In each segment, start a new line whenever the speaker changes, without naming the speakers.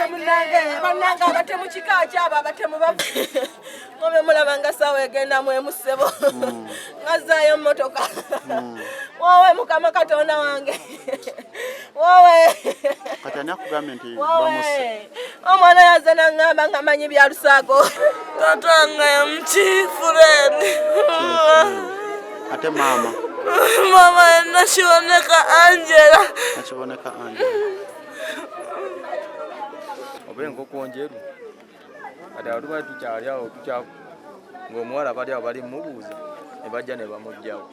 munange banange abatemu kika kyabo abatemu bavu mube mulaba nga sawa egenda mwemusebo mm. ngazayo motoka mm. wowe mukama katonda wange wowe kati
ani akugambye nti bamusse omwana yaze
nangamba nga manyi bya lusago tata nga yamukiifureni
ate maama maama nakiboneka
angela nakiboneka angela
oba enkoko njeru kati awo tuba tukyali awo tukyaku ng'omuwala bali awo bali mubuuza ne bajja ne bamugjawo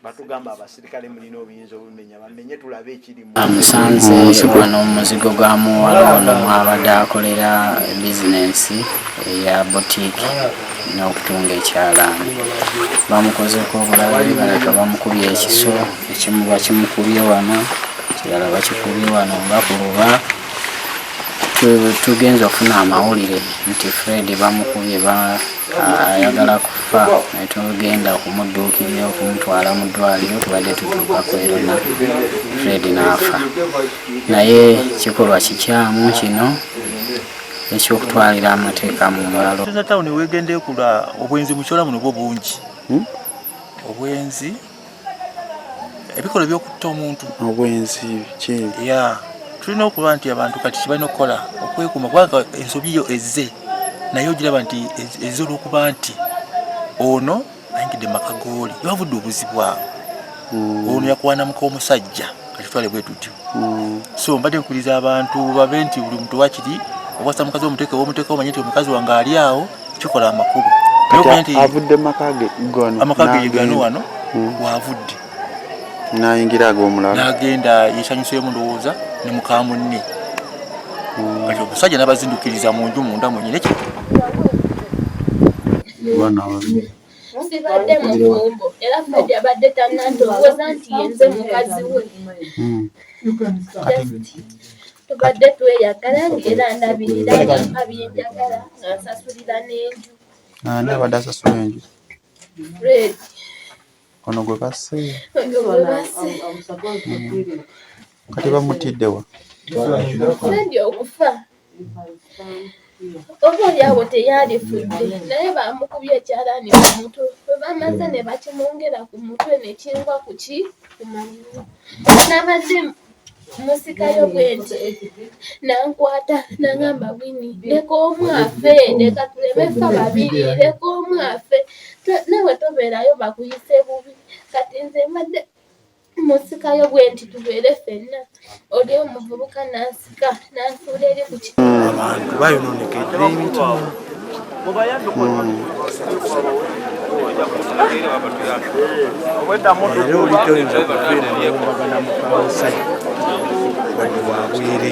batugamba abasirikale mulina obuyinza obumenya bamenye tulabe ekiri amusanze kigwa
n'omuzigo gwa muwala ono mwabadde akolera bizinensi eya botiki n'okutunga ekyalaani bamukozeeko obulabe baleka bamukubye ekiso ekimu bakimukubye wano kirala bakikubye wano nga ku luba tugenza okufuna amawulire nti fred bamukubye ayagala kufa naye tugenda okumudduukirira okumutwala mu ddwaliro tubadde tutuuka kwerona fred n'afa naye kikolwa kikyamu kino ekyokutwalira amateeka mu ngalo eza tawuni wegenda ekula
obwenzi mukyola muno bwo bungi hmm? obwenzi ebikola ebyokutta omuntu obwenzi
ya tulina
okuba nti abantu kati kibalina okukola okwekuuma kubanga ensobi yo ezze naye ogiraba nti ezze olwokuba nti ono ayingidde maka gooli yabavudde obuzibu awo mm. ono yakuwanamuka omusajja katutwale bwe tutyo mm. so mbadde nkuliza abantu babe nti buli muntu wakiri obwasa mukazi omuteke womuteke omanye nti omukazi wange ali awo kikola amakulu avudde
makage gano amakage gano wano
mm. wavudde
nayingira agomulala nagenda yesanyuseemu
ndowooza ne mukamunne kati omusajja nabazindukiriza mu nju munda mwenyini
sibadde mufumbo era fred abadde tanandowooza nti yenze mukazi we hmm. tubadde tweyagala ngaera ndabirira ngampa byenjagala ngansasulira n'enju ani abadde
asasula enju fred ono gwe basse hmm. kati bamutiddewa fred
okufa Oboolyawo teyalifudde naye baamukubye ekyalaani ku mutwe bwe baamaze ne bakimwongera ku mutwe ne kingwa ku ki ku mannyo. Nabadde musikayo bwe nti n'ankwata n'angamba Winnie leka omu afe leka tuleme ffa babiri leka omu afe nawe tobeerayo bakuyise bubi kati nze mbadde musikayo bwe nti tubeere fenna oli omuvubuka n'asika n'asuula eri ku ki abantu
bayonoonekedde emitima era oli toyinza kubeera newombagana mukamusajja wadde wabwereere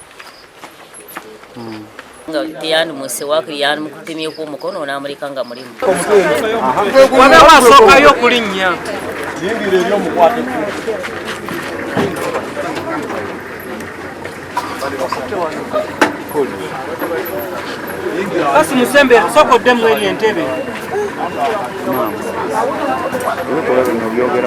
nga teyandimuse wakiri yandimukutemyeko omukono onamuleka nga mulimu
wabera wasookayo okulinnya yingira eri
omukwate
basi musembe sooka oddemu eri entebe